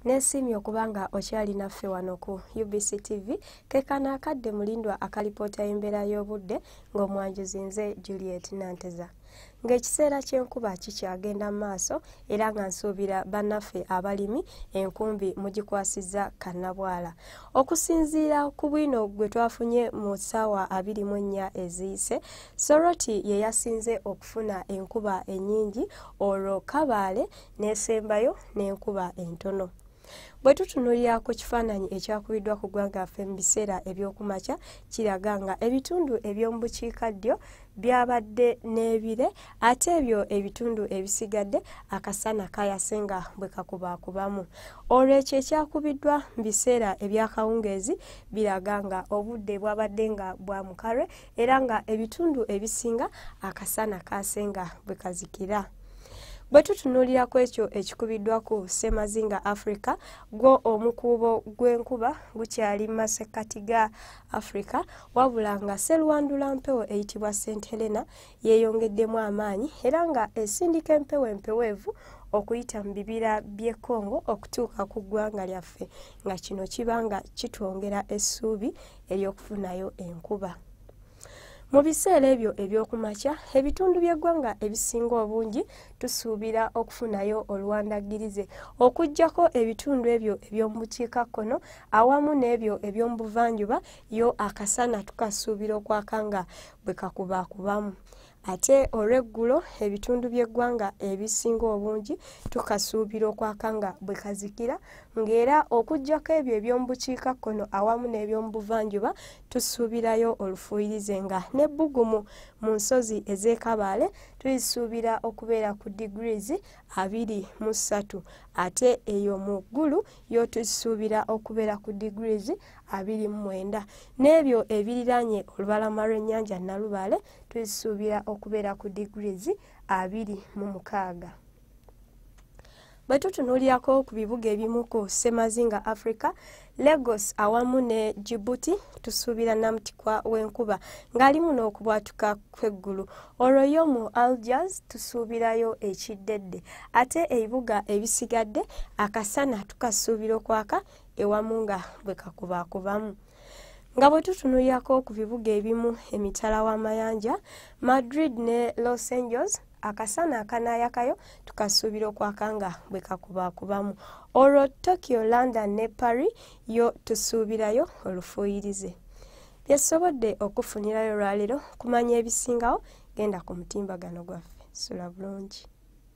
Nesiimye okuba nga okyali naffe wano ku UBC TV kekano akadde mulindwa akalipoota y'embeera y'obudde ng'omwanjuzi nze Juliet Nanteza. Ng'ekiseera ky'enkuba kikyagenda mu maaso era nga nsuubira bannaffe abalimi enkumbi mugikwasizza kannabwala. Okusinziira ku bwino gwe twafunye mu ssaawa abiri mu ennya eziyise, Soroti ye yasinze okufuna enkuba ennyingi olwo Kabaale n'esembayo n'enkuba entono bwe tutunulira ku kifaananyi ekyakubiddwa ku ggwanga affe mu biseera ebyokumakya kiraga nga ebitundu eby'omu bukiika ddyo byabadde n'ebire ate ebyo ebitundu ebisigadde akasana kayase nga bwe kakubaakubamu olwekyo ekyakubiddwa mu biseera ebyakawungeezi biraga nga obudde bwabadde nga bwa mukalwe era nga ebitundu ebisinga akasana kaasenga bwe kazikira bwe tutunuulira ku ekyo ekikubiddwa ku ssemazinga africa gwo omukuubo gw'enkuba gukyali mu masekkati ga africa wabula nga seruwandula mpewo eyitibwa st helena yeeyongeddemu amaanyi era nga esindika empewo empeweevu okuyita mu bibira by'e congo okutuuka ku ggwanga lyaffe nga kino kiba nga kitwongera essuubi ery'okufunayo enkuba mu biseera ebyo eby'okumakya ebitundu by'eggwanga ebisinga obungi tusuubira okufunayo oluwandaggirize okuggyako ebitundu ebyo eby'omu bukiikakkono awamu n'ebyo eby'omu buvanjuba yo akasana tukasuubira okwaka nga bwe kakubaakubamu Ate olw'eggulo ebitundu by'eggwanga ebisinga obungi tukasuubira okwaka nga bwe kazikira ng'era okuggyako ebyo eby'omu bukiikakkono awamu n'eby'omu buvanjuba tusuubirayo olufuuyirize nga n'ebbugumu mu nsozi ez'ekabaale tulisuubira okubeera ku degrees abiri mu ssatu ate eyo mu ggulu yo tulisuubira okubeera ku degrees abiri mu mwenda n'ebyo ebiriraanye olubalama lw'ennyanja Nalubaale tuzisuubira okubeera ku degrees abiri mu mukaaga bwe tutunuulirako ku bibuga ebimu ku semazinga africa lagos awamu ne jibuti tusuubira namutikwa w'enkuba ng'ali muno okubwatuka kw'eggulu olwo yo mu algiers tusuubirayo ekiddedde ate ebibuga ebisigadde akasana tukasuubira okwaka ewamu nga bwe kakubaakubamu nga bwe tutunulyako ku bibuga ebimu emitala w'amayanja madrid ne los angeles akasana akanaayakayo tukasuubira okwaka nga bwe kakubaakubamu olwo tokyo london ne paris yo tusuubirayo olufuuyirize byesobodde okufunirayo olwaleero kumanya ebisingawo genda ku mutimbagano gwaffe sula bulungi